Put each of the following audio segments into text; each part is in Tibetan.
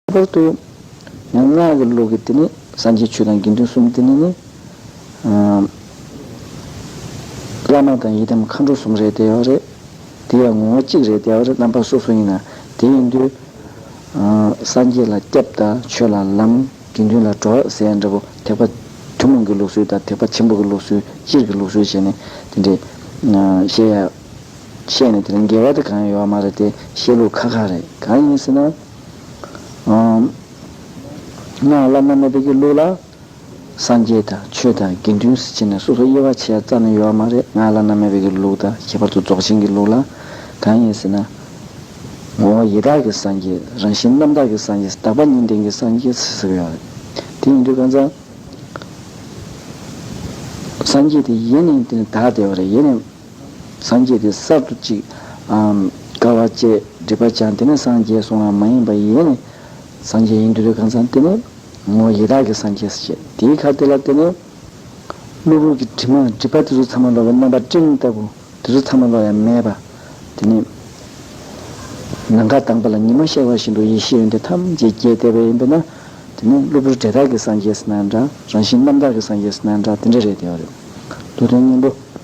པར་འདོད། ཡང་སྔགས་ཀྱི་ལུགས་ཀྱི་དེ་ནི་སངས་རྒྱས་ཆོས་དང་དགེ་འདུན་གསུམ་དེ་ནི་ནི། བླ་མ་དང་ཡི་དམ་མཁའ་འགྲོ་གསུམ་རེད་བདེ་བ་རེད། དེ་ཡང་ངོ་བོ་གཅིག་རེད་བདེ་བ་རེད་རྣམ་པ་སོ་སོ་ཡིན་ན་དེ་ཡིན་དུས། སངས་རྒྱས་ལ་སྐྱབས་དང་ཆོས་ལ་ལམ་དགེ་འདུན་ལ་གྲོགས་ཟེར་ཡ་འདྲ་པོ་ཐེག་པ་ཐུན་མོང་གི་ལུགས་སྲོལ་དང་ཐེག་པ་ཆེན་པོ་གི་ལུགས་སྲོལ་སྤྱིར་གྱི་ལུགས་སྲོལ་བྱས་ནས་དེ་འདྲའི་བཤད་ཡ་བཤད་ནས་དེ་ལ་འགལ་བ་དེ་གང་ཡང་ཡོད་བ་མ་རེད་དེ་བཤད་ལུགས་ཁག་ཁག་རེད་གང་ཡིན་ཟེར་ན། བླ་ན་མེད་པའི་གི་ལུགས་ལ། སངས་རྒྱས་དང་ཆོས་དང་དགེ་འདུན་བསྲེ་བྱས་ནས་སོ་སོ་དབྱེ་བ་ཕྱེ་བ་ཙམ་ལས་ཡོད་བ་མ་རེད་ང་བླ་ན་མེད་པའི་གི་ལུགས་དང་ཁྱད་པར་དུ་རྫོགས་ཆེན་གི་ལུགས་ལ། གང་ཡིན་ཟེར་ན། ངོ་བོ་ཡེ་དག་གི་སངས་རྒྱས་རང་བཞིན་རྣམ་དག་གི་སངས་རྒྱས་དག་པ་གཉིས་ལྡན་གྱི་སངས་རྒྱས་ཟེར་གི་ཡོད་བ་རེད། དེ་ཡིན་དུས་གང་ཟག། སངས་རྒྱས་དེ་ཡེ་ནས་དེ་ནི་དག་བདེ་བ་རེད་ཡེ་ནས་སངས་རྒྱས་དེ་གསར་དུ་གཅིག། དགའ་བ་བཅས་སྒྲིབ་པ་སྦྱངས་དེ་ནས་སངས་རྒྱས་སུ་འང་མ་ཡིན་པ་ཡེ་ནས་སངས་རྒྱས་ཡིན་དུ་རེ་གང་ཚང་བསྟན་ནས། ངོ་བོ་ཡེ་དག་གི་སངས་རྒྱས་སུ་བྱས་དེའི་ཁར་དེ་ལ་བརྟེན་ནས། གློ་བུར་གྱི་དྲི་མ་སྒྲིབ་པ་དེ་ཚོ་ཚང་མ་ལོག་པའི་རྣམ་པ་སྤྲིན་ལྟ་བུ་དེ་ཚོ་ཚང་མ་ལོག་ཡ་མེད་པ། དེ་ནས། ནམ་མཁའ་དྭངས་པ་ལ་ཉི་མ་ཤར་བ་བཞིན་དུ་ཡེ་ཤེས་ཡོན་ཏན་ཐམས་ཅད་རྒྱས་བསྡད་པ་ཡིན་པས་ན། དེ་ནས་གློ་བུར་འབྲས་དག་གི་སངས་རྒྱས་སུ་ན་ཡང་འདྲ་རང་བཞིན་རྣམ་དག་གི་སངས་རྒྱས་སུ་ན་ཡང་འདྲ་དེ་འདྲ་རེད་བདེ་བ་རེད། བློ་དོན་སྙིང་པོ།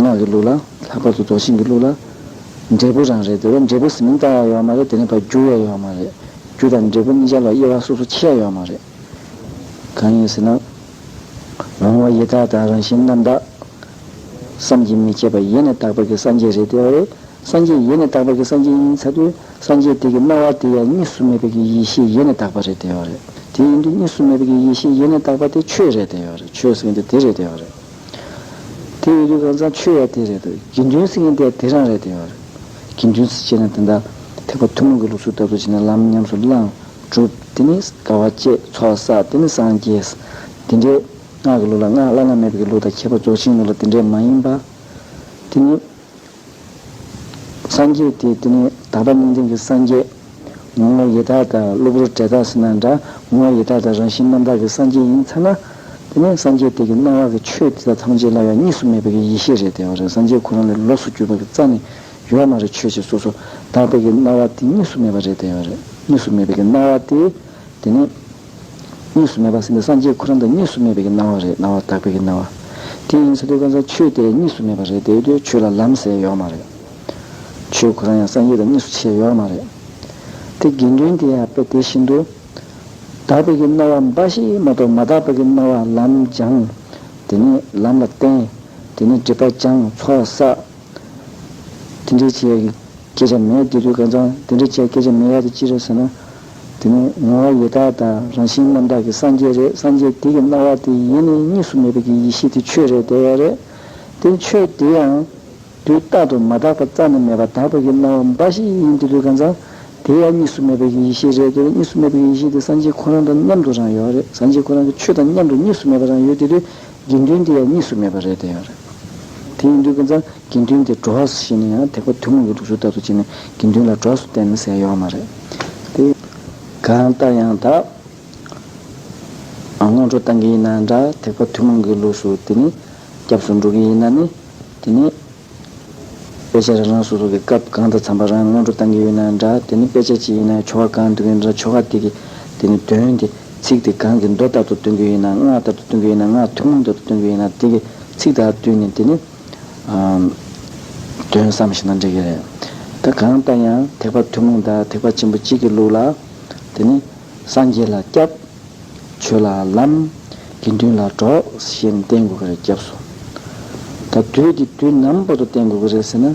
ངག་གི་ལུགས་ལ། ལྷག་པར་དུ་རྫོགས་ཆེན་གྱི་ལུགས་ལ། འབྲས་བུ་རང་རེད་དེ་བས་འབྲས་བུ་ཟིན་མིན་བལྟ་ཡ་ཡོད་མ་རེད་དེ་ནས་བར་འགྱུར་ཡ་ཡོད་མ་རེད། རྒྱུ་དང་འབྲས་བུ་གཉིས་ཆར་ལ་དབྱེ་བ་སོ་སོ་ཕྱེ་ཡ་ཡོད་མ་རེད། གང་ཡིན་ཟེར་ན། འོང་བ་ཡེ་དག་དང་རང་བཞིན་རྣམ་དག། བསམ་གྱིས་མི་ཁྱབ་པ་ཡེ་ནས་དག་པ་གི་སངས་རྒྱས་རེད་དེ་བས། སངས་རྒྱས་ཡེ་ནས་དག་པ་གི་སངས་རྒྱས་ཡིན་ཚ་དུས་སངས་རྒྱས་དེ་གི་སྣང་བ་དེ་ཡང་གཉིས་སུ་མེད་པའི་གི་ཡེ་ཤེས་ཡེ་ནས་དག་པ་རེད་དེ་ཡོད་རེད་དེ་ཡིན་དུས་གཉིས་སུ་མེད་པའི་གི་ཡེ་ཤེས་ཡེ་ནས་དག་པ་དེ་ཆོས་རེད་དེ་ཡོད་རེད་ཆོས་སིང་དེ་དེ་རེད་དེ་ཡོད་རེད་དེ་ཡོད་དུས་གང་ཚང་ཆོས་ཡ་དེ་རེད་དུ་གི་འདུན་སིང་གི་དེ་དེ་རང་རེད་དེ་ཡོད་རེད་གི་འདུན་སི་བྱེད་ན་དེ་འདྲ་ཐེག་པ་ཐུན་མོང་གི་ལུགས་སྲོལ་ལྟ་བུ་བྱེད་ན་ལམ་ཉམས་སུ་བླངས་གྲུབ་དེ་ནི་དགའ་བ་བསྐྱེད་ཚོགས་བསགས་དེ་ནི་སངས་རྒྱས་དེ་འདྲའི་སྔགས་གི་ལུགས་ལ་སྔགས་བླ་ན་མེད་པའི་གི་ལུགས་དང་ཁྱད་པར་རྫོགས་ཆེན་ལུགས་ལ་དེ་འདྲའི་མ་ཡིན་པ་དེ་ནི། སངས་རྒྱས་ཏེ་དེ་ནི་དག་པ་གཉིས་ལྡན་གྱི་སངས་རྒྱས། ངོ་བོ་ཡེ་དག་དང་གློ་བུར་བྲལ་དག་སེར་སྣ་འདྲ་ངོ་བོ་ཡེ་དག་དང་རང་བཞིན་རྣམ་དག་གི་སངས་རྒྱས་ཡིན་ཚར་ན། དེ་ནི་སངས་རྒྱས་དེ་གི་སྣང་བ་གི་ཆོས་དེ་དག་ཐམས་ཅད་སླ་བའི་གཉིས་སུ་མེད་པའི་གི་ཡེ་ཤེས་རེད་དེ་བ་རེད་སངས་རྒྱས་ཁོ་རང་ལས་ལོགས་སུ་གྱུར་པ་གི་རྩ་ནི་ཡོད་བ་མ་རེད་ཆོས་ཅན་སོ་སོ་དག་པའི་གི་སྣང་བ་དེ་གཉིས་སུ་མེད་པ་རེད་དེ་བ་རེད་གཉིས་སུ་མེད་པའི་གི་སྣང་བ་དེ་དེ་ནི། གཉིས་སུ་མེད་པ་སེམས་དང་སངས་རྒྱས་ཁོ་རང་དང་གཉིས་སུ་མེད་པའི་གྱི་སྣང་བ་རེད་སྣང་བ་དག་པའི་གྱི་སྣང་བ། དེ་ཡིན་ཚེ་དེ་ཀ་ཚ་ཆོས་དེ་གཉིས་སུ་མེད་པ་རེད་དེ་དེ་ཆོས་ལ་ལམ་ཟེར་ཡོག་མ་རེད། ཆོས་ཁོ་རང་ཡང་སངས་རྒྱས་དང་གཉིས་སུ་ཕྱེ་ཡོག་མ་རེད། དེ་དགེ་འདུན་དེ་ཡང་དཔེ་དེ་བཞིན་དུ། དག་པའི་གྱི་སྣང་བ་འབའ་ཞིག་མ་གཏོགས་མ་དག་པའི་གྱི་སྣང་བ་ལམ་སྦྱང། དེ་ནས་ལམ་ལ་བརྟེན། དེ་ནས་སྒྲིབ་པ་སྦྱང་ཚོགས་བསགས། དེ་འདྲའི་བྱེད་ཡག་གི་སྐད་ཆ་མེད་དེ་དུས་ཀ་ཚང་དེ་འདྲའི་བྱེད་ཡག་སྐད་ཆ་མེད་ཡག་དེ་ཅི་རེད་ཟེར་ན། དེ་ནི་ངོ་བོ་ཡེ་དག་དང་རང་བཞིན་རྣམ་དག་གི་སངས་རྒྱས་རེད་སངས་རྒྱས་དེ་གི་སྣང་བ་དེ་ཡེ་ནས་གཉིས་སུ་མེད་པའི་གི་ཡེ་ཤེས་དེ་ཆོས་རེད་དེ་ཡེ་རེད་དེ་ཆོས་དེ་ཡང། དུས་རྟག་ཏུ་མ་དག་པ་རྩ་ནས་མེད་པ་དག་པའི་གི་སྣང་བ་འབའ་ཞིག་ཡིན་དེ་དུས་གང་ཙམ། དེ་ཡང་གཉིས་སུ་མེད་པའི་གི་ཡེ་ཤེས་རེད་དེ་གཉིས་སུ་མེད་པའི་གི་ཡེ་ཤེས་དེ་སངས་རྒྱས་ཁོ་རང་དང་མཉམ་དུ་རང་ཡོད་རེད་སངས་རྒྱས་ཁོ་རང་གི་ཆོས་དང་མཉམ་དུ་གཉིས་སུ་མེད་པ་རང་ཡོད་དེ་དུས་དགེ་འདུན་དེ་ཡང་གཉིས་སུ་མེད་པ་རེད་དེ་ཡོད་རེད་དེ་ཡིན་དུས་གང་ཙམ། དགེ་འདུན་དེ་འགྲོ་བ་སུ་ཞིག་ནས་ཡང་དེ་ཁོ་ཐུན་མོང་གི་དུག་ཤོར་ལྟ་བུ་བྱས་ནས་དགེ་འདུན་ལ་གྲོགས་སུ་བསྟེན་ན་ཟས་ཡོད་བ་མ་རེད་དེ། གང་ལྟར་ཡང་དག་སྔོན་འགྲོ་བཏང་གི་ཡིན་ན་འདྲ་དེ་ཁོ་ཐུན་མོང་གི་ལུགས་སུ་དེ་ནི་སྐྱབས་སུ་འགྲོ་གི་ཡིན་ན་ནི་དེ་ནི། དཔེ་ཆ་རང་རང་སོ་སོ་གི་སྐབས་གང་དང་འཚམས་པ་རང་སྔོན་འགྲོ་བཏང་གི་ཡོད་ན་འདྲ་དེ་ནི་དཔེ་ཆ་གཅིག་ཡིན་ན་ཆོ་ག་གང་འདོད་ཀྱི་འདྲ་ཆོ་ག་དེ་གི་དེ་ནི་དོན་དེ་ཚིག་དེ་གང་གི་མདོ་ལྟར་དུ་སྟོན་གི་ཡིན་ན་སྔགས་ལྟར་དུ་སྟོན་གི་ཡིན་ན་སྔགས་ཐུན་མོང་ལྟར་དུ་སྟོན་གི་ཡིན་ན་དེ་གི་ཚིག་དག་བསྟུན་ནས་དེ་ནི། དོན་བསམ་ཞིག་ན་འགྲིག་གི་རེད། ད་གང་ལྟར་ཡང་ཐེག་པ་ཐུན་མོང་དང་ཐེག་པ་ཆེན་པོ་གཅིག་གི་ལུགས་ལ། དེ་ནི། སངས་རྒྱས་ལ་སྐྱབས། ཆོས་ལ་ལམ། དགེ་འདུན་ལ་གྲོགས་ཞེས་བསྟན་དགོས་ཀྱི་རེད་སྐྱབས་སུ། ད་དུས་ཀྱི་དུས་ནམ་བར་དུ་བསྟན་དགོས་ཀྱི་རེད་ཟེར་ན།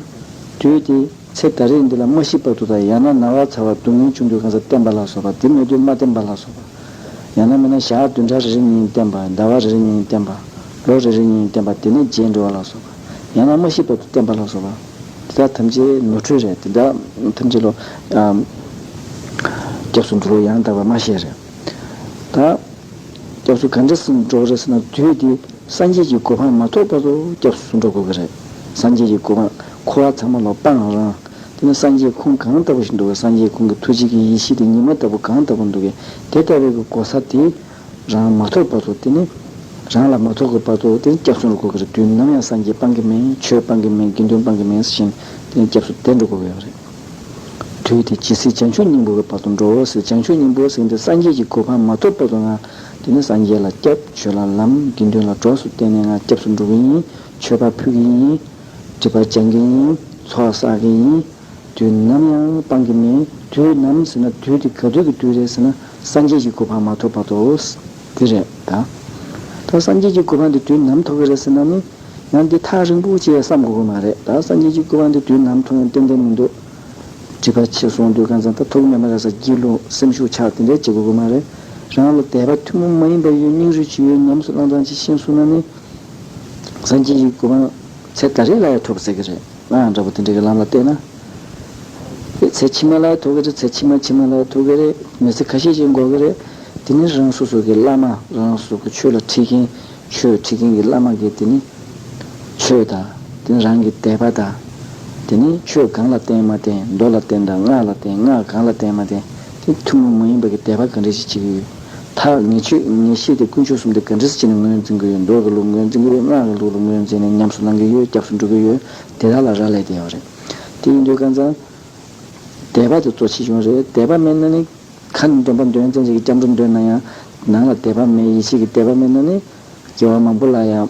དུས་དེ་ཚེ་ད་རེས་འདི་ལ་མ་ཤི་བར་དུ་དང་ཡང་ན་ན་བ་ཚ་བ་སྡུག་བསྔལ་བྱུང་དུས་གང་སར་བསྟན་པ་ལ་སོགས་པ་དེ་མེད་དུས་མ་བསྟན་པ་ལ་སོགས་པ། ཡང་ན་མེད་ན་ཞག་བདུན་ཕྲག་རེ་རེ་གཉིས་བསྟན་པ་ཟླ་བ་རེ་རེ་གཉིས་བསྟན་པ། ལོ་རེ་རེ་ཉིན་བསྟན་པ་དེ་ནས་རྗེས་འབྲེལ་བ་ལ་སོགས་པ། ཡང་ན་མ་ཤི་བར་དུ་བསྟན་པ་ལ་སོགས་པ། འདི་དག་ཐམས་ཅད་ནོར་འཁྲུལ་རེད། འདི་དག་ཐམས་ཅད་ལོ། སྐྱབས་སུ་འགྲོ་བའི་ཡང་དག་པའི་སྨྲ་ཤེས་རེད། ད། སྐྱབས་སུ་ག་འདྲ་འགྲོ་རེད་ཟེར་ན་དུས་དེ་སངས་རྒྱས་ཀྱི་གོ་འཕང་མ་ཐོབ་བར་དུ་སྐྱབས་སུ་འགྲོ་དགོས་ཀྱི་རེད། སངས་རྒྱས་ཀྱི་གོ་འཕང་འཁོར་བ་ཚང་མ་ལ་སྤངས་རང། དེ་ནི་སངས་རྒྱས་ཁུངས་གང་ལྟ་བུ་ཞིག་འདུག་གས་སངས་རྒྱས་ཁུངས་ཀྱི་ཐུགས་རྗེ་ཀྱི་ཡེ་ཤེས་དེ་ཉི་མ་ལྟ་བུ་གང་ལྟ་བུ་འདུག་གས་དེ་ལྟ་བའི་གོ་ས་དེ། རང་མ་ཐོབ་པ་ཚོ་དེ་ནི། རང་ལ་མ་ཐོབ་གི་བ་ཚོ་དེ་ནི་སྐྱབས་སུ་འགྲོ་དགོས་གི་རེད་དུས་ནམ་ཡང་སངས་རྒྱས་སྤང་གི་མིན་ཆོས་སྤང་གི་མིན་དགེ་འདུན་སྤང་གི་མིན་ཟེར་བཞིན་དེ་ནི་སྐྱབས་སུ་དེ་འགྲོ་དགོས་གི་ཡོད་རེད། དུས་དེ་ཇི་སྲིད་བྱང་ཆུབ་སྙིང་པོ་གི་བར་དུ་འགྲོ་བ་སྲིད་བྱང་ཆུབ་སྙིང་པོ་ཟིན་ཏེ་སངས་རྒྱས་ཀྱི་གོ་འཕང་མ་ཐོབ་བ་ཚོ་འང་དེ་ནི་སངས་རྒྱས་ལ་སྐྱབས་ཆོས་ལ་ལམ་དགེ་འདུན་ལ་གྲོགས་སུ་བསྟེན་ནས་འང་སྐྱབས་སུ་འགྲོ་གི་ཡིན་ཆོས་པ་ཕུལ་གི་ཡིན། སྒྲིབ་པ་སྦྱང་གི་ཡིན་ཚོགས་བསགས་གི་ཡིན། དུས་ནམ་ཡང་སྤང་གི་མེད། དུས་ནམ་ཟེར་ན་དུས་དེ་ག་དུས་ཀྱི་དུས་རེད་ཟེར་ན་སངས་རྒྱས་ཀྱི་གོ་འཕང་མ་ཐོབ་བར་དུ་དེ་རེད་ད། ད་སངས་རྒྱས་ཀྱི་གོ་འཕང་དེ་དུས་ནམ་ཐོབ་གི་རེད་ཟེར་ན་ནི། ཡང་འདི་ཐག་རིང་པོ་བཅད་བསམ་དགོས་གི་མ་རེད་ད་སངས་རྒྱས་ཀྱི་གོ་འཕང་དེ་དུས་ནམ་ཐོབ་ཡང་ཏན་ཏན་མི་འདུག། བྲིས་པ་ཆད་སོང་དུས་གང་ཙམ་ད་ཐོབ་གི་མེད་མ་རེད་ས་སྐྱིད་ལུང་སེམས་ཤུགས་ཆགས་དེ་འདྲས་བྱེད་དགོས་གི་མ་རེད། རང་ལ་དད་པ་ཐུན་མོང་མ་ཡིན་པ་ཡོད་སྙིང་རུས་ཇི་ཡོད་ཉམས་སུ་བླང་སྟངས་ཅིག་ཤེས་གསུངས་ན་ནི། སངས་རྒྱས་ཀྱི་གོ་འཕང་ཚེ་ད་རེས་ལ་ཡང་ཐོབ་ཟེར་གི་རེད། ང་ཡང་འདྲ་པོ་དེ་འདྲ་གི་ལམ་ལ་བལྟས་ན། དེ་ཚེ་ཕྱི་མ་ལ་ཐུག་གི་རེད་ཚེ་ཕྱི་མ་ཕྱི་མ་ལ་ཐུག་གི་རེད་མི་ཚེ་ཁ་ཤས་ཤིག་འགོར་གི་རེད། དེ་ནི་རང་སོ་སོ་གི་བླ་མ་རང་སོ་སོ་གི་ཆོས་ལ་ཁྲིད་མཁན་ཆོས་ཁྲིད་མཁན་གི་བླ་མ་གི་དེ་ནི་ཆོས་དང་དེ་ནི་རང་གི་དད་པ་དང། དེ་ནི་ཆོས་གང་ལ་བརྟེན་མ་བརྟེན་མདོ་ལ་བརྟེན་དང་སྔགས་ལ་བརྟེན་སྔགས་གང་ལ་བརྟེན་མ་བརྟེན་དེ་ཐུན་མོང་མ་ཡིན་པ་གི་དད་པ་ག་འདྲ་ཞིག་བྱེད་ཀྱི་ཡོད། ཐག་ཉེ་ཆོད་ངེས་ཤེས་དེ་ཀུན་སྤྱོད་གསུམ་དེ་ག་འདྲི་སྤྱི་ནས་ངོས་འཛིན་གི་ཡོད་འདོད་ཀྱི་ལུགས་ངོས་འཛིན་གི་ཡོད་སྔགས་ཀྱི་ལུགས་ལ་ངོས་འཛིན་ནས་ཉམས་སུ་བླང་གི་ཡོད་སྐྱབས་སུ་འགྲོ་གི་ཡོད་དེ་དག་ལ་རག་ལས་དེ་ཡོད་རེད། དེ་ཡིན་དུས་ཀ་ཚང་དད་པ་དེ་གཙོ་ཆེ་ཆུང་རེད་དད་པ་མེད་ན་ནི། ཁ་ནས་འདོན་པ་འདོན་བཙན་བྱེད་ཀྱི་སྐྱབས་འགྲོ་འདོན་ན་ཡང། ནང་ལ་དད་པ་མེད་ཡིད་ཆེས་ཀྱི་དད་པ་མེད་ན་ནི། རྒྱལ་བ་མང་པོ་ལ་ཡང།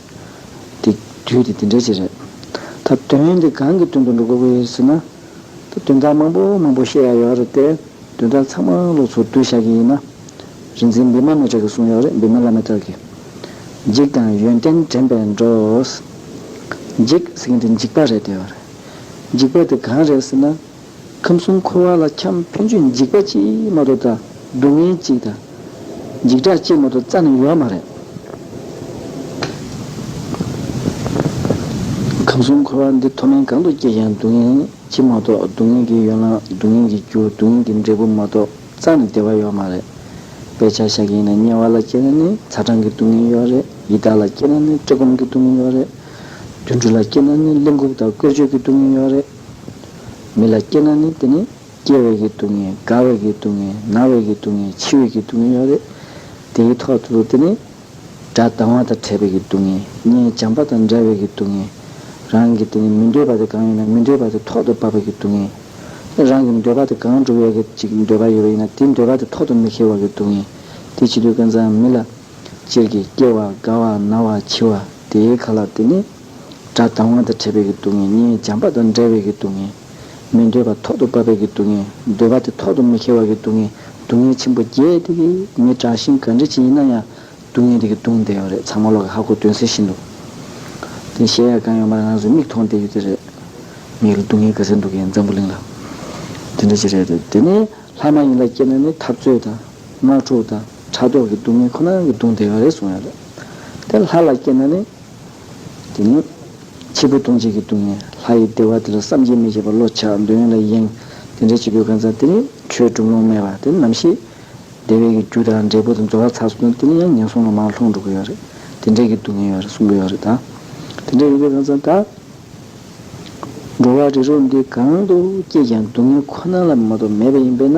དེ། དུས་དེ་དེ་འདྲའི་ཆེད་རེད། ད། དོན་དེ་གང་གི་དོན་དུ་འགྲོ་དགོས་ཀྱི་ཡོད་ཟེར་ན། ད། དོན་དག་མང་པོ་མང་པོ་བཤད་ཡག་ཡོད་རེད་དེ། དོན་དག་ཚང་མ་ལོག་ཚོ་བསྡུ་བཞག་གི་ཡིན་ན། རིག་འཛིན་བི་མ་མེ་ཏྲ་གི་གསུང་ཡག་རེད་བི་མ་ལ་མེ་ཏྲ་གི། འཇིགས་དང་ཡོན་ཏན་དྲན་པས་འགྲོའོ། འཇིགས་ཟེར་མཁན་དེ་འཇིགས་པ་རེད་དེ། འཇིགས་པ་དེ་གང་རེད་ཟེར་ན། ཁམས་གསུམ་འཁོར་བ་ལ་འཁྱམ་ཕན་ཚུན་འཇིགས་པ་ཅིས་མ་གཏོགས་དང་སྡུག་བསྔལ་གཅིག་དང། འཇིགས་སྐྲག་ཅིས་མ་གཏོགས་རྩ་ནས་ཡོད་མ་རེད། ཁམས་གསུམ་འཁོར་བ་འདི་མཐོ་དམན་གང་དུ་སྐྱེས་ཀྱང་སྡུག་བསྔལ་ཅིས་མ་གཏོགས་སྡུག་བསྔལ་གྱི་ཡོ་ལང་སྡུག་བསྔལ་གྱི་རྒྱུ་སྡུག་བསྔལ་གྱི་འབྲས་བུ་མ་གཏོགས་རྩ་ནས་བདེ་བ་ཡོད་མ་རེད། དཔེ་ཆ་ཤ་ཁྱི་ཡིན་ན་དམྱལ་བ་ལ་སྐྱེས་ན་ནི་ཚ་གྲང་གི་སྡུག་བསྔལ་ཡོད་རེད་ཡི་དྭགས་ལ་སྐྱེས་ན་ནི་བཀྲེས་སྐོམ་གྱི་སྡུག་བསྔལ་ཡོད་རེད། དུད་འགྲོ་ལ་སྐྱེས་ན་ནི་གླེན་ལྐུགས་དང་བཀོལ་སྤྱོད་ཀྱི་སྡུག་བསྔལ་ཡོད་རེད། མི་ལ་སྐྱེ་ན་ནི་དེ་ནི་སྐྱེ་བའི་གི་སྡུག་བསྔལ་རྒ་བའི་གི་སྡུག་བསྔལ་ན་བའི་གི་སྡུག་བསྔལ་འཆི་བའི་གི་སྡུག་བསྔལ་ཡོད་རེད། དེའི་ཐོག་ཏུ་དེ་ནི། དགྲ་སྡང་བ་དང་བྲལ་བའི་གི་སྡུག་བསྔལ་གཉེན་བྱམས་པ་དང་འདྲ་བའི་གི་སྡུག་བསྔལ། རང་གི་དེ་ནི་མི་འདོད་པ་དེ་གང་ཡོད་ན་མི་འདོད་པ་དེ་ཐོག་ཏུ་བབ་པའི་གི་སྡུག་བསྔལ། དེ་རང་གི་འདོད་པ་དེ་གང་འགྲུབ་ཡོད་གི་ཅིག་འདོད་པ་ཡོད་པ་ཡིན་ན་དེའི་འདོད་པ་དེ་ཐོག་ཏུ་མི་འཁེལ་བ་གི་སྡུག་བསྔལ། དེ་བྱེད་དུས་ཀུན་བཟང་མི་ལ། སྤྱིར་གྱི་སྐྱེ་བ་རྒ་བ་ན་བ་འཆི་བ་དེའི་ག་ལ་དེ་ནི། དགྲ་ཟླ་དབང་དང་ཕྲད་པའི་གི་སྡུག་བསྔལ་གཉིས་འཇམ་དཔའ་དང་འདྲ་བའི་གི་སྡུག་བསྔལ། མི་འདོད་པ་ཐོག་ཏུ་བབ་པའི་གི་སྡུག་བསྔལ་འདོད་པ་དེ་ཐོག་ཏུ་མི་ཁེལ་བ་གི་སྡུག་བསྔལ་སྡུག་བསྔལ་ཆེན་པོ་བརྒྱད་དེ་གི་མི་དྲག་ཤིང་ག་འདྲི་ཅན་ཡིན་ན་ཡང་སྡུག་བསྔལ་དེ་གི་གདུང་བསྡད་ཡོད་རེད་ཚང་མ་ཀློག་གི་ཧ་གོ་དོན་གསལ་ཤིན་ཏུ་དེ་གཞལ་ཡས་ཁང་ཡོང་བར་ང་ཚོས་མིག་མཐོང་བསྡད་ཡོད་དེ་རེད། མིག་ལ་སྡུག་བསྔལ་ག་ཚད་འདུག་གི་འཛམ་བུ་གླིང་ལ། དེ་འདྲ་ཅིག་རེད་དེ་དེ་ནི་ལྷ་མ་ཡིན་ལ་སྐྱེས་ན་ནི་འཐབ་རྩོད་དང། དམག་འཁྲུག་དང་ཕྲག་དོག་གི་སྡུག་བསྔལ་ཁོ་ན་གི་གདུང་བསྡད་ཡོད་རེད་གསུངས་ཡོད་རེད་དེ། ལྷ་ལ་སྐྱེས་ན་ནི། དེ་ནས་འཆི་འཕོ་ལྟུང་བྱེད་ཀྱི་སྡུག་བསྔལ་ལྷ་ཡི་བདེ་བ་དེ་ལ་བསམ་གྱིས་མི་ཁྱབ་པ་བློ་ཆགས་འདོད་ཡོན་ལ་གཡེང། དེ་འདྲའི་འཆི་འཕོའི་གང་ཟག་དེ་ནི་ཆོས་བསྒྲུབ་ལོང་སྨྲས་པ་དེ་ནམ་ཞིག། བདེ་བའི་གི་རྒྱུ་དང་འབྲས་བུ་དང་འགྲོ་བ་ཚར་སོང་དེ་ནི་ཡང་ངན་སོང་ལ་མར་ལྷུང་འགྲོ་གི་ཡོད་རེད། དེ་འདྲའི་གི་སྡུག་བསྔལ་ཡོད་རེད་གསུང་གི་ཡོད་རེད་ད། དེ་འདྲའི་ཡོད་པའི་གང་ཟག་དག། འགྲོ་བ་རི་རོ་འདི་གང་དུ་སྐྱེས་ཀྱང་སྡུག་བསྔལ་ཁོ་ན་ལ་མ་གཏོགས་མེད་པ་ཡིན་པས་ན།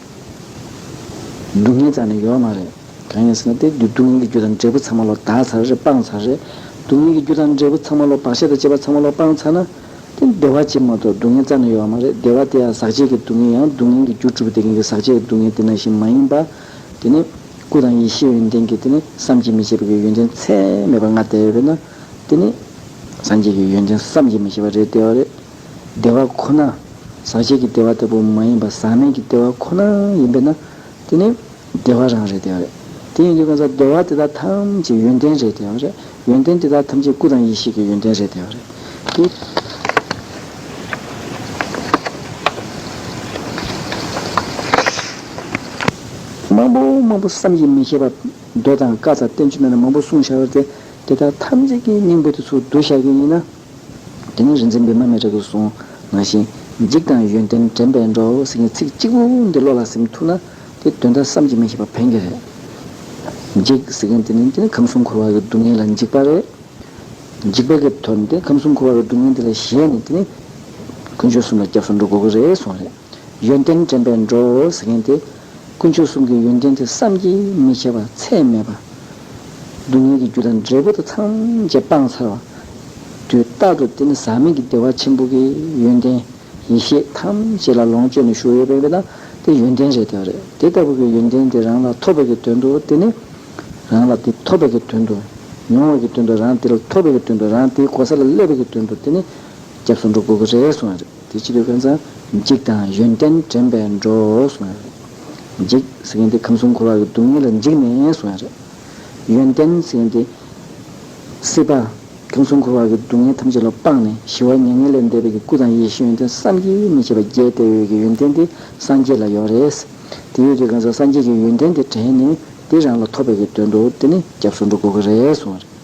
སྡུག་བསྔལ་ཙམ་ནི་ཡོད་མ་རེད། གང་ཡིན་ཟེར་ན་དེ་དུས་སྡུག་བསྔལ་གྱི་རྒྱུ་དང་འབྲས་བུ་ཚང་མ་ལོག་ལྟ་ཚར་རེད་སྤངས་ཚར་རེད། སྡུག་བསྔལ་གྱི་རྒྱུ་དང་འབྲས་བུ་ཚང་མ་ལོག་བག་ཆགས་དང་བཅས་པ་ཚང་མ་ལོག་སྤངས་ཚར་ན། དེ་བདེ་བ་ཅན་མ་གཏོགས་སྡུག་བསྔལ་ཙམ་ནི་ཡོད་མ་རེད་བདེ་བ་དེ་ཡང་ཟག་བཅས་ཀྱི་སྡུག་བསྔལ་ཡང་སྡུག་བསྔལ་གྱི་རྒྱུ་གྲུབ་པ་དེ་ཀུན་གྱི་ཟག་བཅས་ཀྱི་སྡུག་བསྔལ་དེ་ནང་བཞིན་མ་ཡིན་པ། དེ་ནི། སྐུ་དང་ཡེ་ཤེས་ཡོན་ཏན་གྱི་དེ་ནི་བསམ་གྱིས་མི་ཁྱབ་པ་ཀྱི་ཡོན་ཏན་ཚད་མེད་པ་ལྔ་བདེ་བས་ན། དེ་ནི། སངས་རྒྱས་ཀྱི་ཡོན་ཏན་བསམ་གྱིས་མི་ཁྱབ་པ་རེ་བདེ་བ་རེད། བདེ་བ་ཁོ་ན་ཟག་བཅས་ཀྱི་བདེ་བ་ལྟ་བུ་མ་ཡིན་པར་ཟག་མེད་ཀྱི་བདེ་བ་ཁོ་ན་ཡིན་པས་ན་དེ་ནི་བདེ་བ་རང་རེད་བདེ་བ་རེད། དེ་ཡིན་དུས་གང་ཟག་བདེ་བ་དེ་དག་ཐམས་ཅད་ཡོན་ཏན་རེད་བདེ་བ་རེད། ཡོན་ཏན་དེ་དག་ཐམས་ཅད་སྐུ་དང་ཡེ་ཤེས་ཀྱི་ཡོན་ཏན་རེད་བདེ་བ་རེད། དེ། མང་པོ་མང་པོ་བསམ་གྱིས་མི་ཁྱབ་པ། མདོ་དང་བཀའ་རྩ་བསྟན་བཅོས་མན་ངག་མང་པོ་གསུངས་བཞག་པ་དེ་དག་ཐམས་ཅད་ཀྱི་སྙིང་པོ་དེ་ཚོ་བསྡུ་བཞག་གི་ཡིན་ན། དེ་ནས་རིག་འཛིན་བི་མ་མའི་རིགས་སུ་སོང་ང་བཞིན། འཇིགས་དང་ཡོན་ཏན་དྲན་པས་འགྲོ་ཟེར་མཁན་ཚིག་གཅིག་པུ་འདི་བློ་ལ་སིམ་ཐུབ་ན། དེ་དོན་དག་བསམ་གྱིས་མི་ཤེས་པ་ཕན་གྱི་རེད། འཇིགས་ཟེར་མཁན་དེ་ནི་འདི་ནི་ཁམས་གསུམ་འཁོར་བ་གི་སྡུག་བསྔལ་ལ་འཇིགས་པ་རེད། འཇིགས་པ་གི་དོན་དེ་ཁམས་གསུམ་འཁོར་བ་གི་སྡུག་བསྔལ་འདི་ལ་གཞལ་ནས་དེ་ནི། དཀོན་མཆོག་གསུམ་ལ་སྐྱབས་སུ་འགྲོ་དགོས་ཀྱི་རེད་གསུངས་རེད། ཡོན་ཏན་དྲན་པས་འགྲོ་འོ་ཟེར་མཁན་དེ། དཀོན་མཆོག་གསུམ་གྱི་ཡོན་ཏན་དེ་བསམ་གྱིས་མི་ཁྱབ་པ་ཚད་མེད་པ། སྡུག་བསྔལ་གྱི་རྒྱུ་དང་འབྲས་བུ་དང་ཚང་བཅས་སྤངས་ཚར་བ། དུས་རྟག་ཏུ་དེ་ནི་ཟག་མེད་ཀྱི་བདེ་བ་ཆེན་པོ་གི་ཡོན་ཏན། ཡེ་ཤེས་ཐམས་ཅད་ལ་ལོངས་སྤྱོད་ནས་བཞུགས་ཡོད་པས་དེ་དག་དེ་ཡོན་ཏན་རེད་བདེ་བ་རེད་དེ་ལྟ་བུ་གི་ཡོན་ཏན་དེ་རང་ལ་ཐོབ་པའི་གི་དོན་དུ་དེ་ནི། རང་ལ་དེ་ཐོབ་པའི་གི་དོན་དུ། མྱོང་བའི་གི་དོན་དུ་རང་དེ་ལ་ཐོབ་པའི་གི་དོན་དུ་རང་དེའི་གོ་ས་ལ་སླེབས་པའི་གི་དོན་དུ་དེ་ནི། སྐྱབས་སུ་འགྲོ་དགོས་གི་རེད་གསུངས་བ་རེད། དེ་ཕྱིར་དབེན་ས་འཇིགས་དང་ཡོན་ཏན་དྲན་པས་འགྲོ་གསུངས་པ་རེད། འཇིགས་ཟེར་མཁན་དེ་ཁམས་གསུམ་འཁོར་བ་གི་སྡུག་བསྔལ་ལ་འཇིགས་ནས་གསུངས་པ་རེད། ཡོན་ཏན་ཟེར་མཁན་དེ། སྲིད་པ། ཁམས་གསུམ་འཁོར་བ་གི་སྡུག་བསྔལ་ཐམས་ཅད་ལ་དཔག་ནས་ཞི་བ་མྱ་ངན་ལས་འདས་པའི་གི་སྐུ་དང་ཡེ་ཤེས་ཡོན་ཏན་བསམ་གྱིས་མི་ཁྱབ་པ་རྒྱས་གཏད་འོད་ཀྱི་ཡོན་ཏན་དེ་སངས་རྒྱས་ལ་ཡོད་རེད། དེ་ཡོད་ཀྱི་དབེན་ས་སངས་རྒྱས་ཀྱི་ཡོན་ཏན་དེ་དྲན་ནས་དེ་རང་ལ་ཐོབ་པའི་གི་དོན་དུ་དེ་ནི་སྐྱབས་སུ་འགྲོ་དགོས་ཀྱི་རེད་གསུངས་པ་རེད།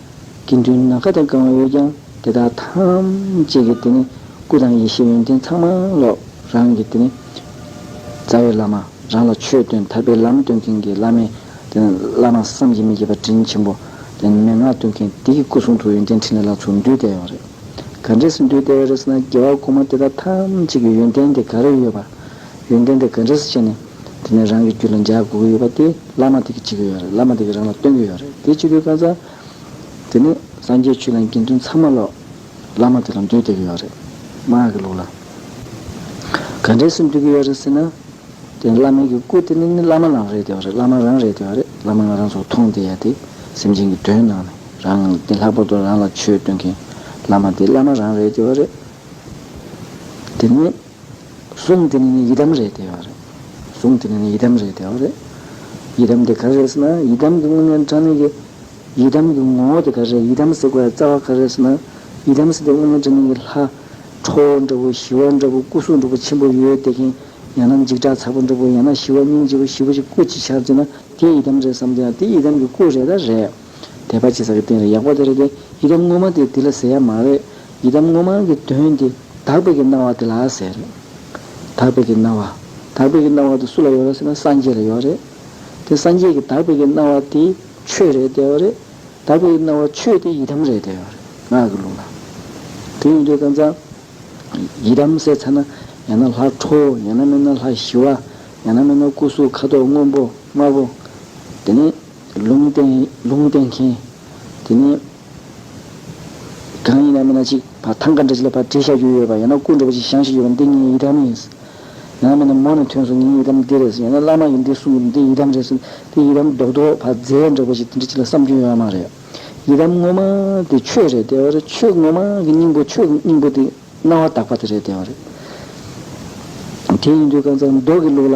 དགེ་འདུན་ནཱ་ག་དང་བསྐང་བ་ཡོད་ཀྱང་དེ་དག་ཐམས་ཅད་ཀྱི་དེ་ནི་སྐུ་དང་ཡེ་ཤེས་ཡོན་ཏན་ཚང་མ་ལོག་རང་གི་དེ་ནི་རྩ་བའི་བླ་མ་རང་ལ་ཆོས་སྟོན་ཐར་པའི་ལམ་སྟོན་མཁན་གྱི་བླ་མའི་དེ་ནི་བླ་མ་བསམ་གྱིས་མི་ཁྱབ་པ་དྲིན་ཆེན་པོ་དེ་ནི་མན་ངག་སྟོན་མཁན་དེ་ཀྱི་སྐུ་གསུང་ཐུགས་ཡོན་ཏན་ཕྲིན་ལས་ལ་ཚུར་འདུས་བསྟན་ཡོད་པ་རེད། ག་འདྲས་སུ་འདུས་བསྟན་ཡོད་རེད་ཟེར་ན་རྒྱལ་བ་ཀུ་མ་དེ་དག་ཐམས་ཅད་ཀྱི་ཡོན་ཏན་དེ་ག་རེ་ཡོད་པ། ཡོན་ཏན་དེ་ག་འདྲས་སུ་བྱས་ནས། དེ་ནས་རང་གི་རྒྱུད་ལ་འཇའ་དགུ་གི་ཡོད་པ་དེ་བླ་མ་དེ་གི་བྱེད་ཀྱི་ཡོད་རེད་བླ་མ་དེ་གི་རང་ལ་སྟོན་གྱི་ཡོད་རེད་དེ་ཅི་དགོས་བཀའ་སྩལ། དེ་ནས་སངས་རྒྱས་ཆོས་ལ་དགེ་འདུན་ཚང་མ་ལོག། བླ་མ་དེ་ལ་མདོས་གཏད་ཀྱི་ཡོད་རེད། དམར་ཡག་གི་ལུགས་ལ། ག་འདྲའི་སེམས་སྡུག་གི་ཡོད་རེད་ཟེར་ན། དེ་ནས་བླ་མའི་གི་སྐུ་དེ་ནི་ནི་བླ་མ་རང་རེད་དེ་བ་རེད་བླ་མ་རང་རེད་དེ་བ་རེད་བླ་མ་ང་རང་ཚོ་མཐོང་བདེ་ཡ་དེ་སེམས་ཅན་གི་དོན་གནང་ནས་རང་དེ་ལྷག་པར་དུ་རང་ལ་ཆོས་སྟོན་མཁན་བླ་མ་དེ་བླ་མ་རང་རེད་དེ་བ་རེད། དེ་ནས། གཟུངས་དེ་ནི་ནི་ཡི་དམ་རེད་དེའོ་རེད། གཟུངས་དེ་ནི་ནི་ཡི་དམ་རེད་དེའོ་རེད། ཡི་དམ་དེ་ག་རེད་ཟེར་ན་ཡི་དམ་གྱི་དངོས་གནས་འདྲ་མིན་གྱི། ཡི་དམ་གྱི་ངོ་བོ་དེ་ག་རེད་ཡི་དམ་གཟིགས་པའི་རྩ་བ་ག་རེད་ཟེར་ན། ཡི་དམ་གཟིགས་པའི་དངོས་གནས་འདྲ་མིན་གྱི་ལྷ། ཁྲོ་བོ་འདྲ་བོ་ཞི་བ་འདྲ་བོ་སྐུ་གཟུགས་འདྲ་བོ་ཆེན་པོ་ཡོད་དེ་གིན། ཡང་ན་འཇིགས་སྐྲག་ཚ་པོ་འདྲ་བོ་ཡང་ན་ཞི་བ་སྙིང་རྗེ་བོ་ཞི་བ་ཅིག་སྐུ་ཅིག་ཤར་ཅེ་ན་དེ་ཡི་དམ་རེད་བསམ་དེ་ཡང་དེ་ཡི་དམ་གྱི་སྐུ་རེད་ད་རེད། དད་པ་བྱེད་ས་ཀྱི་སྟེང་ལ་ཡག་པོ་དེ་རེད་དེ། ཡི་དམ་དངོས་མ་དེ་འདི་ལ་ཟེར་ཡ་མ་རེད། ཡི་དམ་དངོས་མ་གི་དོན་དེ་དག་པའི་གི་སྣང་བ་དེ་ལ་ཟེར། དག་པའི་གི་སྣང་བ། དག་པའི་གི་སྣང་བ་དེ་སུ་ལ་ཡོད་ར་ཟེར་ན་སངས་རྒྱས་ལ་ཡོད་རེད། དེ་སངས་རྒྱས་ཀྱི་དག་པའི་གི་སྣང་བ་དེ་ཆོས་རེད་དེ་ཡོད་རེད། དག་པའི་གི་སྣང་བ་ཆོས་དེ་ཡི་དམ་རེད་དེ་ཡོད་རེད་ངག་གི་ལུང་ལ། དེ་ཡིན་དུས་ད་ཚ། ཡི་དམ་ཟེར་ཚ་ན་ཡང་ན་ལྷ་ཁྲོ་བོ་ཡང་ན་མིན་ན་ལྷ་ཞི་བ། ཡང་ན་མིན་ན་སྐུ་གཟུགས་ཁ་དོག་སྔོན་པོ་དམར་པོ། དེ་ནས། ལུང་བསྟན། ལུང་བསྟན་མཁན། དེ་ནས། གང་ཡིན་ན་མིན་ན་ཅིག། བ་ཐང་ཀ་འདྲ་ཅིག་ལ་བ་དྲི་ཤ་རྒྱུ་ཡོད་པ་ཡང་ན་སྐུ་འདྲ་བ་ཅིག་ཤང་ཞིག་ཡོད་པ་འདི་ངའི་ཡི་དམ་ཡིན། ཡང་ན་མིན་ན་མོ་ནས་ཐོན་སོང་ངའི་ཡི་དམ་འདི་རེད་ཟེར་ཡང་ན་བླ་མ་ཡིན་འདི་གསུང་གི་འདི་ཡི་དམ་རེད་ཟེར་འདི་ཡི་དམ་རྡོག་རྡོག་བ་རྫས་འདྲ་བ་ཞིག་འདི་འདྲ་ཅིག་ལ་བསམ་སྐྱོན་ཡོད་ཨ་མ་རེད། ཡི་དམ་ངོ་མ་དེ་ཆོས་རེད་བདེ་བ་རེད་ཆོས་ངོ་མ་གི་སྙིང་པོ་ཆོས་ཀྱི་སྙིང་པོ་དེ་རྣ་བ་དག་པ་དེ་རེད་བདེ་བ་རེད། དེ་ཡིན་དུས་རྐང་ཚ་མདོག་གི་ལུགས་ལ།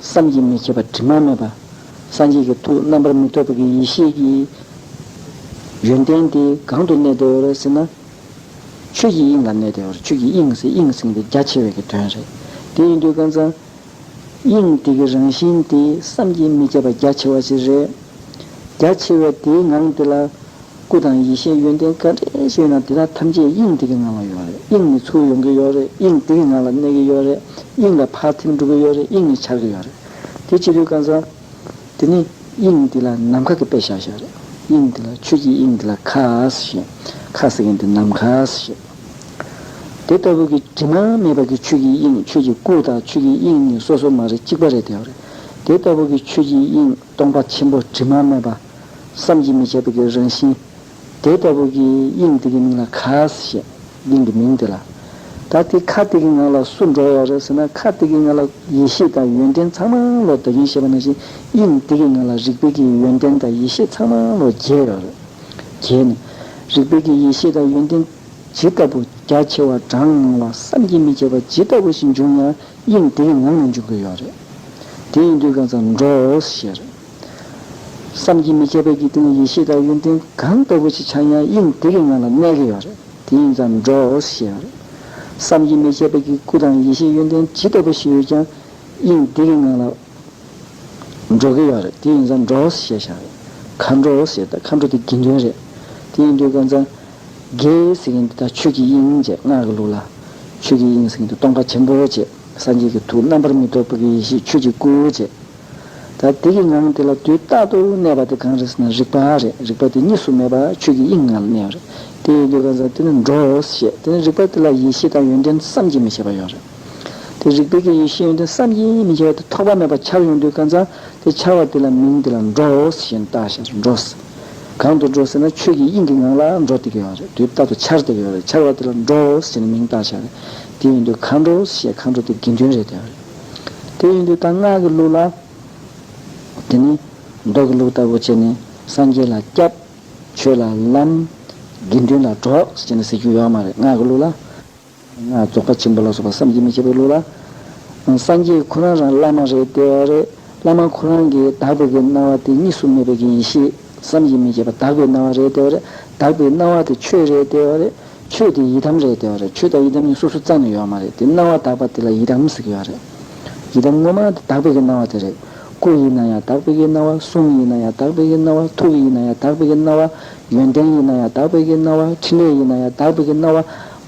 བསམ་གྱིས་མི་ཁྱབ་པ་དྲི་མ་མེད་པ། སངས་རྒྱས་ཀྱི་ཐུགས་རྣམ་པར་མི་རྟོག་པའི་གི་ཡེ་ཤེས་ཀྱི། ཡོན་ཏན་དེ་གང་དུ་གནས་བདེ་བར་ཟེར་ན། ཆོས་ཀྱི་དབྱིངས་ལ་གནས་བདེ་བར་ཆོས་ཀྱི་དབྱིངས་སེ་དབྱིངས་སེང་དེ་རྒྱ་ཆེ་བའི་གི་དོན་རེད། དེ་ཡིན་དུས་ཀུན་བཟང། དབྱིངས་དེ་གི་རང་བཞིན་དེ་བསམ་གྱིས་མི་ཁྱབ་པ་རྒྱ་ཆེ་བ་ཞིག་རེད། རྒྱ་ཆེ་བའི་དེའི་ངང་དེ་ལ། སྐུ་དང་ཡེ་ཤེས་ཡོན་ཏན་ག་རེ་ཞིག་ཡོད་ན་དེ་དག་ཐམས་ཅད་དབྱིངས་དེ་གི་ངང་ལ་ཡོད་རེད་དབྱིངས་ནི་ཚུར་ཡོང་གི་ཡོད་རེད་དབྱིངས་དེ་གི་ངང་ལ་གནས་གི་ཡོད་རེད་དབྱིངས་ལ་ཕར་ཐིམ་འགྲོ་གི་ཡོད་རེད་དབྱིངས་ནི་འཆར་གི་ཡོད་རེད། དེ་ཅི་ལུས་གང་ཟག། དེ་ནི། དབྱིངས་འདི་ལ་ནམ་མཁའ་གི་དཔེ་བཞག་བཞག་རེད། དབྱིངས་འདི་ལ་ཆོས་ཀྱི་དབྱིངས་འདི་ལ་ཁ་ཟེར་ཞེས། ཁ་ཟེར་མཁན་དེ་ནམ་མཁའ་ཟེར་ཞེས། དེ་ལྟ་བུ་གི་དྲི་མ་མེད་པ་གི་ཆོས་ཀྱི་དབྱིངས་ཆོས་ཀྱི་སྐུ་དང་ཆོས་ཀྱི་དབྱིངས་གཉིས་སོ་སོ་མ་རེད་གཅིག་པ་རེད་བདེ་བ་རེད། དེ་ལྟ་བུ་གི་ཆོས་ཀྱི་དབྱིངས་སྟོང་པ་ཆེན་པོ་དྲི་མ་མེད་པ། བསམ་གྱིས་མི་ཁྱབ་པའི་གྱི་རང་བཞིན། དེ་ལྟ་བུ་གྱི་དབྱིངས་དེ་གི་མིང་ལ་ཁ་ཟས་ཞེས། དབྱིངས་ཀྱི་མིང་དེ་ལ། ད་དེ་ཁ་དེ་གི་ངང་ལ་སུ་འགྲོ་བ་རེད་ཟེར་ན་ཁ་དེ་གི་ངང་ལ་ཡེ་ཤེས་དང་ཡོན་ཏན་ཚང་མ་ངང་ལོ་འདོད་ཀྱིན་ཞེས་པ་ནང་བཞིན་དབྱིངས་དེ་གི་ངང་ལ་རིག་པའི་གི་ཡོན་ཏན་དང་ཡེ་ཤེས་ཚང་མ་ངང་ལོ་རྒྱས་ཡོད་རེད། རྒྱས་ནས། རིག་པའི་གི་ཡེ་ཤེས་དང་ཡོན་ཏན། ཇི་ལྟ་བུ་རྒྱ་ཆེ་བ་གྲངས་མང་བ་བསམ་གྱིས་མི་ཁྱབ་པ་ཇི་ལྟ་བུ་ཞིག་འབྱུང་ཡང་དབྱིངས་དེ་གི་ངང་ལ་འཇུག་གི་ཡོད་རེད། དེ་ཡིན་དུས་གང་ཚང་འགྲོ་ཞེས་རེད། བསམ་གྱིས་མི་ཁྱབ་པའི་འཇིག་རྟེན་ཡེ་ཤེས་དང་ཡོན་ཏན་གང་ལྟ་བུ་ཞིག་འཆར་ཡང་དབྱིངས་དེ་གའི་ངང་ལ་གནས་གི་ཡོད་རེད་དེ་ཡིན་ཙང་འགྲོ་ཞེས་པ་རེད། བསམ་གྱིས་མི་ཁྱབ་པའི་གི་སྐུ་དང་ཡེ་ཤེས་ཡོན་ཏན་ཇི་ལྟ་བུ་ཞིག་ཡོད་ཀྱང་དབྱིངས་དེ་གའི་ངང་ལ་འགྲོ་གི་ཡོད་རེད་དེ་ཡིན་ཙང་འགྲོ་ཞེས་བྱ་བ་རེད། མཁའ་འགྲོ་ཞེས་ད་མཁའ་འགྲོ་དེ་དགེ་འདུན་རེད། དེ་ཡིན་དུས་ཀ་ཙང་དགེ་ཟེར་མཁན་དེ་དག་ཆོས་ཀྱི་དབྱིངས་ཅེས་སྔགས་ཀྱི་ལུགས་ལ། ཆོས་ཀྱི་དབྱིངས་ཟེར་མཁན་དེ་སྟོང་པ་ཆེན་པོ་ཅེས་སངས་རྒྱས་ཀྱི་ཐུགས་རྣམ་པར་མི་རྟོག་པའི་ཡེ་ཤེས་ཆོས་ཀྱི་སྐུ་ཅེས། ད་དེ་གི་ངང་དེ་ལ་དུས་རྟག་ཏུ་གནས་པ་དེ་གང་རེད་ཟེར་ན་རིག་པ་རེད་རིག་པ་དེ་གཉིས་སུ་མེད་པར་ཆོས་ཀྱི་དབྱིངས་ངང་ལ་གནས་པ་རེད་དེ་ཡོད་དུས་གང་ཟག་དེ་ནི་འགྲོ་ཞེས་དེ་ནི་རིག་པ་དེ་ལ་ཡེ་ཤེས་དང་ཡོན་ཏན་བསམ་གྱིས་མི་ཁྱབ་པ་ཡོད་རེད་དེ་རིག་པའི་གི་ཡེ་ཤེས་ཡོན་ཏན་བསམ་གྱིས་མི་ཁྱབ་པ་དེ་ཐོགས་པ་མེད་པར་འཆར་ཡོང་དུས་གང་ཟག་དེ་འཆར་བ་དེ་ལ་མིང་དེ་ལ་འགྲོ་ཞེས་བཏགས་ཞེས་འགྲོ་གང་དུ་འགྲོ་ཟེར་ན་ཆོས་ཀྱི་དབྱིངས་ཀྱི་ངང་ལ་འགྲོ་དེ་གི་ཡོད་རེད་དུས་རྟག་ཏུ་འཆར་དེ་གི་ཡོད་རེད་འཆར་བ་དེ་ལ་འགྲོ་ཞེས་ནི་མིང་བཏགས་ཞེས་རེད་དེ་ཡོད་དུས་གང་འགྲོ་ཞེས་གང་འགྲོ་དེ་དགེ་འདུན་རེད་དེ་ཡོད་རེད། དེ་བཞིན་དུ་དང་སྔགས་ཀྱི་ལུགས་ལ། དེ་ནི་མདོ་གི་ལུགས་ལྟ་བུ་བྱས་ནས་སངས་རྒྱས་ལ་སྐྱབས། ཆོས་ལ་ལམ། དགེ་འདུན་ལ་གྲོགས་བྱས་ནས་ཟེར་རྒྱུ་ཡོད་མ་རེད་སྔགས་ཀྱི་ལུགས་ལ། སྔགས་རྫོགས་པ་ཆེན་པོ་ལ་སོགས་པ་བསམ་གྱིས་མི་ཁྱབ་པའི་ལུགས་ལ། སངས་རྒྱས་ཁོ་རང་རང་བླ་མ་རེད་བདེ་བ་རེད་བླ་མ་ཁོ་རང་གིས་དག་པའི་གི་སྣང་བ་དེ་གཉིས་སུ་མེད་པའི་གི་ཡེ་ཤེས་བསམ་གྱིས་མི་ཁྱབ་པ་དག་པའི་སྣང་བ་རེད་བདེ་བ་རེད་དག་པའི་སྣང་བ་དེ་ཆོས་རེད་བདེ་བ་རེད། ཆོས་དེ་ཡི་དམ་རེད་འདོད་རེད་ཆོས་དང་ཡི་དམ་གཉིས་སོ་སོ་རྩ་ནས་ཡོད་མ་རེད་དེ་སྣང་བ་དག་པ་དེ་ལ་ཡི་དམ་ཟེར་གྱི་ཡོད་རེད། ཡི་དམ་དངོས་མང་དེ་དག་པའི་གི་སྣང་བ་དེ་རེད། སྐུ་ཡི་སྣང་ཡང་དག་པའི་གི་སྣང་བ་གསུང་ཡི་སྣང་ཡང་དག་པའི་གི་སྣང་བ་ཐུགས་ཡི་སྣང་ཡང་དག་པའི་གི་སྣང་བ་ཡོན་ཏན་ཡི་སྣང་ཡང་དག་པའི་གི་སྣང་བ་ཕྲིན་ལས་ཡི་སྣང་ཡང་དག་པའི་གི་སྣང་བ་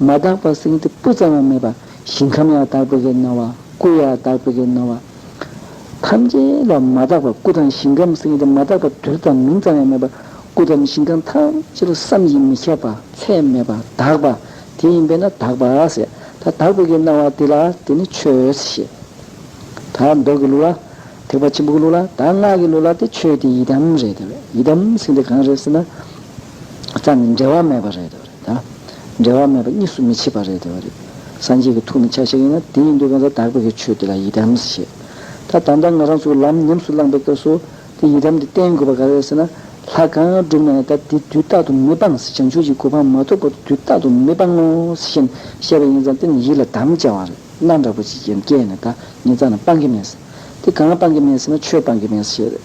མ་དག་པ་སེང་གེ་སྤུ་ཙམ་ཡང་མེད་པ་ཞིང་ཁམས་ཡང་དག་པའི་གི་སྣང་བ་སྐུ་ཡང་དག་པའི་གི་སྣང་བ། ཐམས་ཅད་ལ་མ་དག་པར་སྐུ་དང་ཞིང་ཁམས་སེམས་ཀྱི་མ་དག་པ་དུས་དང་མིང་ཙམ་ཡང་མེད་པར་སྐུ་དང་ཞིང་ཁམས་ཐམས་ཅད་ལ་བསམ་གྱིས་མི་ཁྱབ་པ་ཚད་མེད་པ་དག་པ་དེ་ཡིན་པས་ན་དག་པ་ཟེར། ད་དག་པའི་གི་སྣང་བ་དེ་ལ་དེ་ནི་ཆོས་ཞེས། ད་མདོ་གི་ལུགས་ལ། ཐེག་པ་ཆེན་པོ་གི་ལུགས་ལ་ད་སྔགས་ཀྱི་ལུགས་ལ་དེ་ཆོས་དེ་ཡི་དམ་རེད་དེ། ཡི་དམ་སེམས་དེ་གང་རེད་ཟེར་ན། རྩ་ནི་འབྲལ་བ་མེད་པ་རེད་དོ། འབྲལ་བ་མེད་པ་གཉིས་སུ་མི་ཕྱེད་པ་རེད་དོ། སངས་རྒྱས་ཀྱི་ཐུགས་ནི་ཆ་ཤས་ཡིན་ན་དེ་ཡིན་དུས་གང་ཟག་དག་པའི་གེགས་ཆོད་དེ་ལ་ཡི་དམ་ཞེས། ད་ད་ལྟ་ང་རང་ཚོས་ལམ་ཉམས་སུ་བླངས་པའི་སྐབས་སུ་དེ་ཡི་དམ་དེ་བསྟེན་དགོས་པ་ག་རེ་རེད་ཟེར་ན། ལྷ་གང་བསྒྲུབ་ནའི་ད་དེ་དུས་རྟག་ཏུ་མི་སྤང་ཟེར་བྱང་ཆུབ་ཀྱི་གོ་འཕང་མ་ཐོབ་བར་དུ་དུས་རྟག་ཏུ་མི་སྤང་ངོ་ཟེར་བཞིན་བཤད་པ་ཡིན་ཙང་དེ་ནི་ཡིད་ལ་དམ་བཅའ་བ་རེད་ན་འདྲ་པོ་ཅིག་ཀྱང་སྐྱེས་ནས་ད་ངེད་ཅག་ནི་སྤང་གི་མེད། དེ་གང་སྤང་གི་མེད་ཟེར་ན་ཆོས་སྤང་གི་མེད་ཞེས་རེད།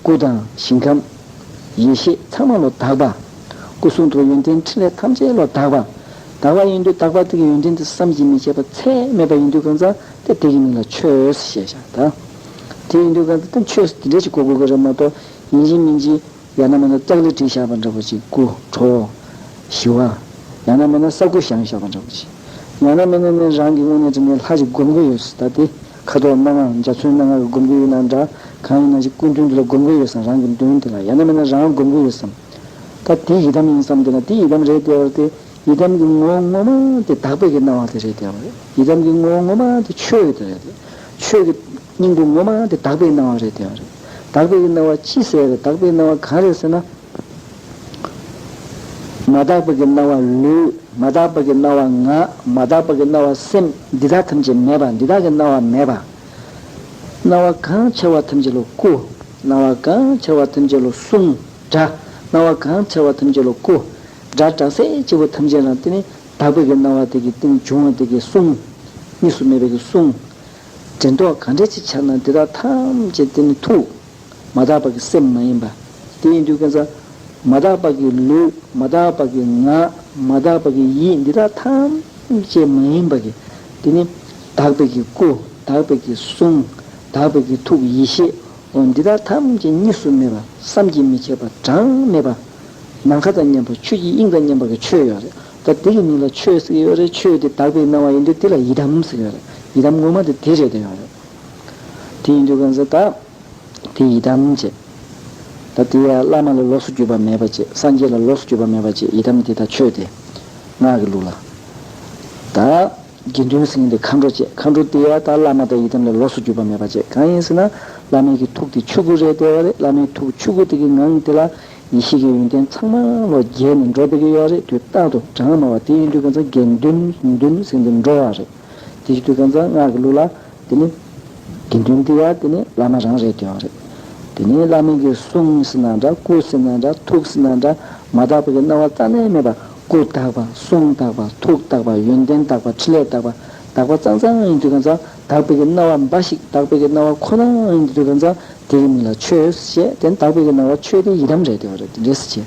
སྐུ་དང་ཞིང་ཁམས། ཡེ་ཤེས་ཚངས་མ་ལོ་དག་པ། སྐུ་གསུང་ཐུགས་ཡོན་ཏན་ཕྲིན་ལས་ཐམས་ཅད་ལོ་དག་པ། དག་པ་ཡིན་དུས་དག་པ་དེ་གི་ཡོན་ཏན་དེ་བསམ་གྱིས་མི་ཁྱབ་པ་ཚད་མེད་པ་ཡིན་དུས་གང་ཟག་དེ་དེ་གི་མིང་ལ་ཆོས་ཞེས་བྱ་བ་དང། དེ་ཡིན་དུས་གང་ཟག་དེ་ཆོས་འདི་འདྲས་ཞིག་གོ་དགོས་ཀྱི་རེད་མ་གཏོགས་ཡིན་གཅིག་མིན་གཅིག་ཡང་ན་མེད་ན་ཙཀ་ལི་བྲིས་བཞག་པ་འདྲ་པོ་ཅིག་སྐུ་བྲོ། ཞི་བ། ཡང་ན་མེད་ན་ས་སྐུ་བཞེངས་བཞག་པ་འདྲ་པོ་ཅིག། ཡང་ན་མེད་ན་ནི་རང་གི་དངོས་གནས་དྲིན་ལན་ལྷག་ཅིག་བསྒོམ་དགོས་ཡོད་སྲིད་ད་དེ་ཁ་དོག་སྣ་མང་འཇའ་ཚོན་སྣ་ལྔར་བསྒོམ་གྱི་ཡོད་ན་འདྲ། གང་ཡིན་ན་ཅིག་ཀུན་མཐུན་འདི་ལ་བསྒོམ་དགོས་ཡོད་བསམ་རང་གི་མདུན་དེ་ལ་ཡང་ན་མེད་ན་རང་བསྒོམ་དགོས་ཡོད་བསམ། ད་དེ་ཡི་དམ་ཡིན་བསམ་དེ་ན་དེ་ཡི་དམ་རེད་བལྟས་པར་ཏེ། ཡི་དམ་གྱི་ངོ་བོ་ངོ་མ་དེ་དག་པས་ཀྱི་སྣང་བ་དེ་རེད་བལྟས་པར། ཡི་དམ་གྱི་ངོ་བོ་ངོ་མ་དེ་ཆོས་དེ་རེད་བལྟས། ཆོས་ཀྱི། སྙིང་པོ་ངོ་མ་དེ་དག་པས་སྣང་བ་རེད་བལྟས་པར། དག་པས་ཀྱི་སྣང་བ་ཅི་ཟེར་བས་དག་པས་སྣང་བ་གང་རེད་ཟེར་ན། མ་དག་པ་གི་སྣང་བ་ལུས། མ་དག་པ་གི་སྣང་བ་ངག། མ་དག་པ་གི་སྣང་བ་སེམས། འདི་དག་ཐམས་ཅད་མེད་པ། འདི་དག་གི་སྣང་བ་མེད་པ། སྣང་བ་གང་འཆར་བ་ཐམས་ཅད་ལ་སྐུ། སྣང་བ་གང་འཆར་བ་ཐམས་ཅད་ལ་གསུང། སྒྲ། སྣང་བ་གང་འཆར་བ་ཐམས་ཅད་ལ་སྐུ། སྒྲ། སྒྲ་གསལ་བྱེད་པོ་ཐམས་ཅད་ལ་སྟེ་ནི། དག་པའི་གི་སྣང་བ་དེ་གི་སྟེ་ནི་འབྱུང་བ་དེ་གི་གསུང། གཉིས་སུ་མེད་པའི་གི་གསུང། དྲན་རྟོག་གང་འདྲ་ཅི་འཆར་ན་དེ་དག་ཐམས་ཅད་དེ་ནི་ཐུགས། མ་དག་པ་གི་སེམས་མ་ཡིན་པ། དེ་ཡིན་དུས་ཀྱང་ཚོར་མ་དག་པ་གི་ལུས་མ་དག་པ་གི་ངག་མ་དག་པ་གི་ཡིད་འདི་དག་ཐམས་ཅད་མ་ཡིན་པ་གི་དེ་ནི་དག་པའི་གི་སྐུ་དག་པའི་གི་གསུང་དག་པའི་གི་ཐུགས་ཡེ་ཤེས་འོ་འདི་དག་ཐམས་ཅད་གཉིས་སུ་མེད་པ་བསམ་གྱིས་མི་ཁྱབ་པ་གྲངས་མེད་པ། ནམ་མཁའ་དང་མཉམ་པ་ཆོས་ཀྱི་དབྱིངས་དང་མཉམ་པ་གི་ཆོས་ཡོད་རེད་ད་དེ་གི་མིང་ལ་ཆོས་ཟེར་གྱི་ཡོད་རེད་ཆོས་དེ་དག་པའི་སྣང་བ་ཡིན་དུས་དེ་ལ་ཡི་དམ་ཟེར་གྱི་ཡོད་རེད་ཡི་དམ་དངོས་མ་དེ་དེ་རེད་ད་ཡོད་རེད་དེ་ཡིན་དུས་ཀྱང་ཚོར་ད། དེ་ཡི་དམ་ཅེས། ད་དེ་ཡང་བླ་མ་ལ་ལོགས་སུ་གྱུར་པ་མེད་པ་ཅེས་སངས་རྒྱས་ལ་ལོགས་སུ་གྱུར་པ་མེད་པ་ཅེས་ཡི་དམ་དེ་དག་ཆོས་ཏེ། སྔགས་ཀྱི་ལུགས་ལ། ད། དགེ་འདུན་སེང་གེ་འདི་མཁའ་འགྲོ་ཅེས་མཁའ་འགྲོ་དེ་ཡང་དག་བླ་མ་དང་ཡི་དམ་ལ་ལོགས་སུ་གྱུར་པ་མེད་པ་ཅེས་གང་ཡིན་ཟེར་ན་བླ་མའི་གི་ཐུགས་དེ་ཆུ་སྐུ་རེད་བདེ་བ་རེད་བླ་མའི་ཐུགས་ཆུ་སྐུ་དེ་གི་ངང་དེ་ལ་ཡེ་ཤེས་ཀྱི་ཡོན་ཏན་ཚང་མ་ལོ་བརྒྱད་ནས་འགྲོ་བདེ་གི་ཡོད་རེད་དུས་རྟག་ཏུ་གྲངས་དམའ་བ་དེ་ཡིན་དུས་གང་ཚང་དགེ་འདུན་འདུན་སེང་གེ་འགྲོ་བ་རེད་དེ་ཡིན་དུས་གང་ཚང་སྔགས་ཀྱི་ལུགས་ལ། དེ་ནི་དགེ་འདུན་འདི་ཡང་དེ་ནི་བླ་མ་རང་རེད་ཀྱང་རེད། དེ་ནི་བླ་མིང་གི་གསུང་སྲི་ན་འདྲ་སྐུ་སྲི་ན་འདྲ་ཐུགས་སྲི་ན་འདྲ་མ་དག་པ་གི་སྣང་བ་རྩ་ནས་མེད་པ་སྐུ་དག་པ་གསུང་དག་པ་ཐུགས་དག་པ་ཡོན་ཏན་དག་པ་ཕྲིན་ལས་དག་པ་དག་པ་གཙང་གཙང་ཡིན་དུས་གང་ཙམ་དག་པའི་གི་སྣང་བ་འབའ་ཞིག་དག་པའི་གི་སྣང་བ་ཁོ་ན་ཡིན་དུས་གང་ཙམ་དེ་གི་མིང་ལ་ཆོས་ཞེས་དེ་ནི་དག་པའི་གི་སྣང་བ་ཆོས་དེ་ཡི་དམ་རེད་ཀྱང་རེད་དེ་འདྲའི་སྲི་བྱེད།